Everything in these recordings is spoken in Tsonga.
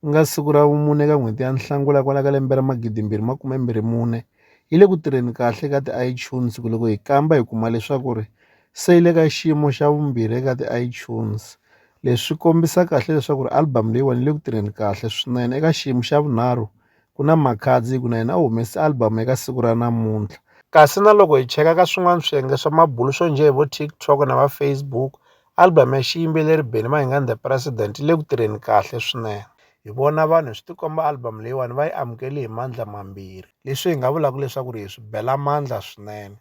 ku nga siku ra vumune ka n'hweti ya Nhlangula kwala ka lembe ra magidi mbirhi makume mbirhi mune yi le ku tirheni kahle ka ti-iTunes ku loko hi kamba hi kuma leswaku ri se yi le ka xiyimo xa vumbirhi eka ti-iTunes leswi kombisa kahle leswaku ri album leyiwani yi le ku tirheni kahle swinene eka xiyimo xa vunharhu ku na Makhadzi ku na yena u humese album eka siku ra namuntlha kasi na loko hi cheka ka swin'wana swiyenge swa mabulo swo njhe hi vo TikTok na va Facebook album ya xiyimbeleri Benny Mayengani The President yi le ku tirheni kahle swinene hi vona vanhu swi tikomba album leyiwani va yi amukeli hi mandla mambirhi leswi hi nga vulaka leswaku ri hi swi bela mandla swinene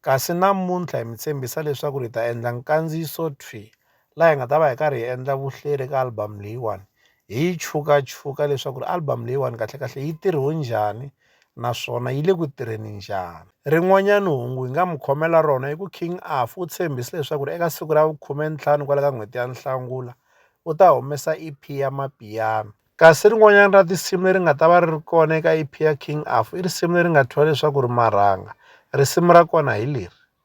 kasi namuntlha hi mi tshembisa leswaku ri hi ta endla nkandziyiso thwi laha hi nga ta va hi karhi hi endla vuhleri ka album leyiwani hi yi chukachuka leswaku ri album leyiwani kahlekahle yi tirhiwe njhani naswona yi le ku tirheni njhani. Rin'wanyani hungu hi nga mi khomela rona i ku King Afu u tshembise leswaku eka siku ra vukhume-ni-ntlhanu kwala ka n'hweti ya Nhlangula u ta humesa EP ya Mapiyano. Kasi rin'wanyani ra tinsimu leri nga ta va ri ri kona eka EP ya King Afu i risimu leri nga thyiwa leswaku ri Marhanga. Risimu ra kona hi leri.